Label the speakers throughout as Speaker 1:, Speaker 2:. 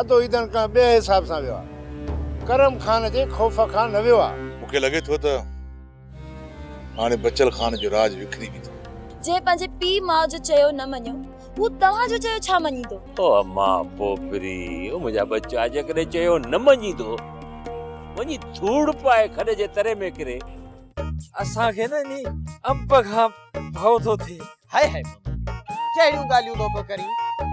Speaker 1: ادو ايدن ڪنهن ٻئي حساب سان ويو آ. ڪرم خان جي خوف کان نه ويو آ. مون کي لڳي ٿو ته
Speaker 2: هاڻي بچل خان جو راڄ وکري به ٿو. جنهن پنهنجي پيء
Speaker 3: ماء جو چيو نه مڃيو، هو توهان جو چيو ڇا مڃيندو؟ او اما
Speaker 4: پوپري، او منهنجا ٻچا، جيڪڏهن چيو نه مڃيندو، وڃي ڌوڙ پائي کڏ جي تري ۾ ڪري. اسان
Speaker 5: کي نه انهي امب کان ڀؤ ٿو ٿئي. هاء هاء ماما جي ڪهڙيون ڳالهيون ٿو پيو ڪرين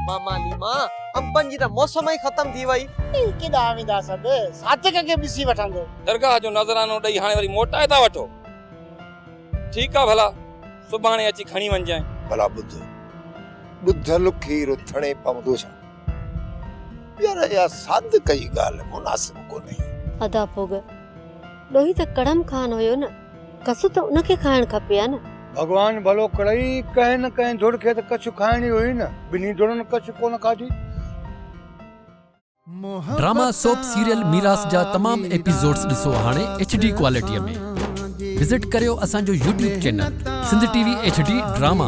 Speaker 5: ماما ليما انبن جي ته موسم ئي ختم ٿي وئي. اي ڪيڏانهن ويندا
Speaker 1: سڀ صادق کي ڏسي وٺندو. درگاهه جو نذرانو
Speaker 6: ڏئي هاڻي وري موٽائي ٿا وٺو ٺيڪ آ ڀلا سڀاڻي اچي کڻي وڃجانء. ڀلا ٻڌ
Speaker 1: ٻڌل کير ٿڻي پوندو ڇا؟ يار اها صادق جي ڳالهه مناسب ڪونهي. ادا ڀوڳ
Speaker 7: ڏوهي ته ڪڙم خان هيو نه. ڪڇ ته ان کي کائڻ کپي ها نه. ڀڳوان ڀلو ڪرئي،
Speaker 8: ڪنهن نه ڪنهن ڌڙ کي ته ڪڇ کائڻي هئي نه، ٻنهي ڌڙن ڪڇ ڪونه کاڌي.
Speaker 9: ڊراما سوپ سيريل ميراث جا تمام ايپيسوڊز ڏسو هاڻي ايڇ ڊي ڪوالٽي ۾ وزٽ ڪريو اسان جو YouTube channel Sindh T V H D drama.